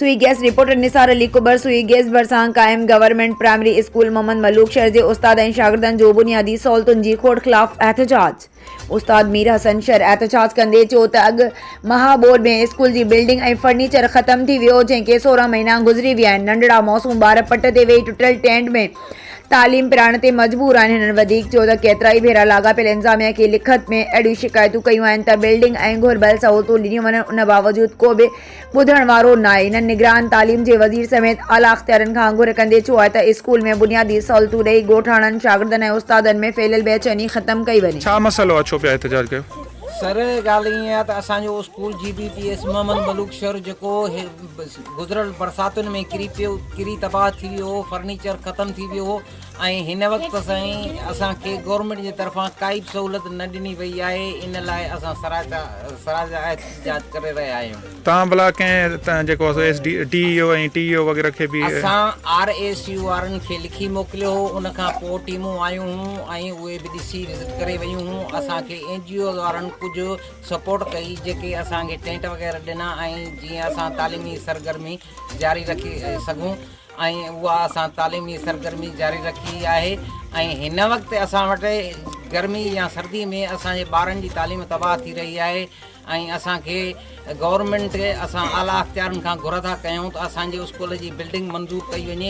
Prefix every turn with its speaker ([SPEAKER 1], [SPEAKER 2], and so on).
[SPEAKER 1] سوئي gas reporter Nisar Ali Kubar Sui gas ڀرسان قائم government primary school Muhammad Malook Shar جي استاد ۽ شاگردن جو بنيادي سهولتن جي کوٽ خلاف احتجاج استاد مير حسن شر احتجاج ڪندي چيو ته اڳ مها ٻوڏ ۾ اسڪول جي بلڊنگ ۽ فرنيچر ختم ٿي ويو جنهن کي سورهن مهينا گذري ويا آهن ننڍڙا معصوم ٻار پٽ تي ويهي ٽٽل ٽينٽ ۾ تعليم پرائڻ تي مجبور آهن هنن وڌيڪ چيو ته ڪيترائي ڀيرا لاڳاپيل انتظاميه کي لکت ۾ اهڙيون شڪايتون ڪيون آهن ته بلڊنگ ۽ گهربل سهولتون ڏنيون وڃن ان باوجود ڪو به ٻڌڻ وارو ناهي. هنن نگران تعليم جي وزير سميت اعليٰ اختيارين کان گهر ڪندي ڇو آهي ته اسڪول ۾ بنيادي سهولتون ڏئي ڳوٺاڻن، شاگردن ۽ استادن ۾ ڦهليل بي چيني ختم ڪئي وڃي. ڇا مسئلو آهي ڇو پيا
[SPEAKER 2] احتجاج ڪيو؟ سر ڳالهه
[SPEAKER 3] ائين آهي ته اسان جو اسڪول جي B P S Muhammad Malook Shar جيڪو گذريل برساتن ۾ ڪري پيو ڪري تباهه ٿي ويو هو فرنيچر ختم ٿي ويو هو ۽ هن وقت تائين اسان کي گورنمينٽ جي طرفان ڪا ئي به سهولت نه ڏني وئي آهي ان لاء اسان سراج احتجاج ڪري رهيا آهيون. توهان ڀلا ڪنهن
[SPEAKER 2] تان جيڪو آهي سو S D D E O ۽ T E O وغيره کي به. اسان آر ايس
[SPEAKER 3] يو وارن کي لکي موڪليو هو ان کان پوء ٽيمون آيون هون ۽ اهي به ڏسي وزٽ ڪري ويون هون اسان کي اين جي اوز وارن ڪجهه سپورٽ ڪئي جيڪي اسان کي ٽينٽ وغيره ڏنا ۽ جيئن اسان تعليمي سرگرمي جاري رکي سگهون ۽ اها اسان تعليمي سرگرمي جاري رکي آهي ۽ هن وقت اسان وٽ گرمي يا سردي ۾ اسان جي ٻارن جي تعليم تباهه ٿي رهي آهي ۽ اسان کي گورنمينٽ اسان اعليٰ اختيارين کان گهر ٿا ڪيون ته اسان جي اسڪول جي بلڊنگ منظور ڪئي وڃي